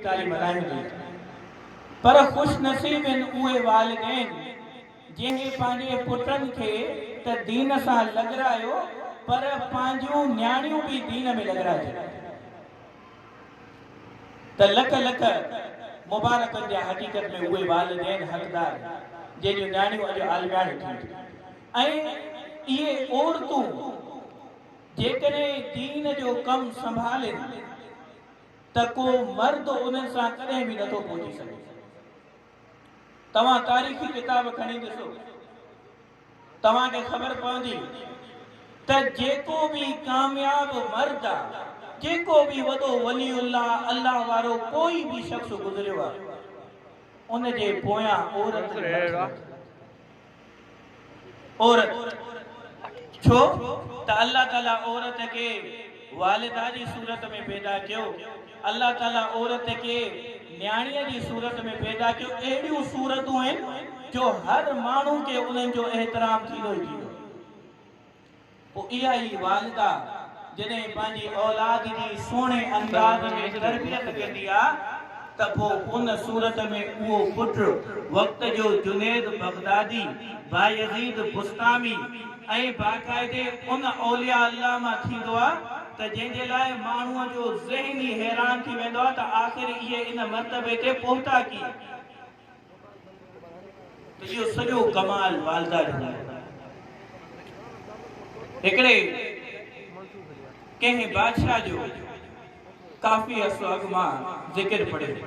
ڳالهه ملهايو ڏئي ٿو پر خوش نصيب هن اهي والدين جنهن پنهنجي پٽن کي ته دين سان لڳرايو پر پنهنجيون نياڻيون به دين ۾ لڳرائجن ته لک لک مبارڪن جا حقيقت ۾ اهي والدين حقدار آهن جنهن جون نياڻيون اڄ عالمياڻيون ٿين ٿيون ۽ اهي عورتون جيڪڏهن دين جو ڪم سنڀالين ته ڪو مرد انهن سان ڪڏهن به نٿو پهچي سگهي. توهان تاريخي ڪتاب کڻي ڏسو، توهان کي خبر پوندي ته جيڪو به ڪامياب مرد آ، جيڪو به وڏو ولي الله، الله وارو ڪوئي به شخص گذريو آ، ان جي پويان عورت جو هٿ هوندو آ. عورت، ڇو ته الله تعاليٰ عورت کي والده جي صورت ۾ پيدا ڪيو، الله تعاليٰ عورت کي نياڻيء جي صورت ۾ پيدا ڪيو، اهڙيون صورتون آهن جو هر ماڻهو کي انهن جو احترام ٿيندو ئي ٿيندو آهي. پوء اها ئي والده جڏهن پنهنجي اولاد جي سهڻي انداز ۾ تربيت ڪندي آ ته پوء ان صورت ۾ اهو پٽ وقت جو جنيد بغدادي، بايزيد بسطامي ۽ باقاعدي ان اولياء الله مان ٿيندو آ ته جنهن جي لاء ماڻهوء جو ذهن ئي حيران ٿي ويندو آ ته آخر اهي ان مرتبي تي پهتا ڪيئن؟ اهو سڄو ڪمال والده جو آهي. هڪڙي ڪنهن بادشاهه جو ڪافي عرصو اڳ مان ذڪر پڙهيو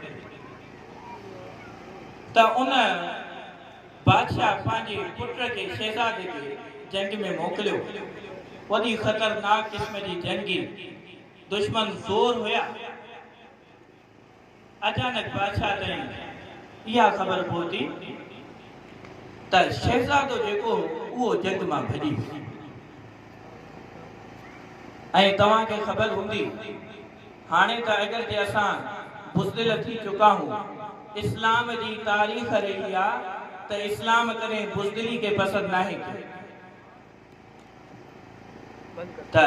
ته ان بادشاهه پنهنجي پٽ کي شهزادي کي جنگ ۾ موڪليو. وڏي خطرناڪ قسم جي جنگي دشمن زور هيا. اچانڪ بادشاهه تائين اها خبر پهتي ته شهزادو جيڪو هو اهو جنگ مان ڀڄي ويو ۽ توهان کي خبر هوندي هاڻي ته اگرچه اسان بزدل ٿي چڪا هون اسلام جي تاريخ رهي آ ته اسلام ڪڏهن بزدلي کي پسند ناهي ڪيو ته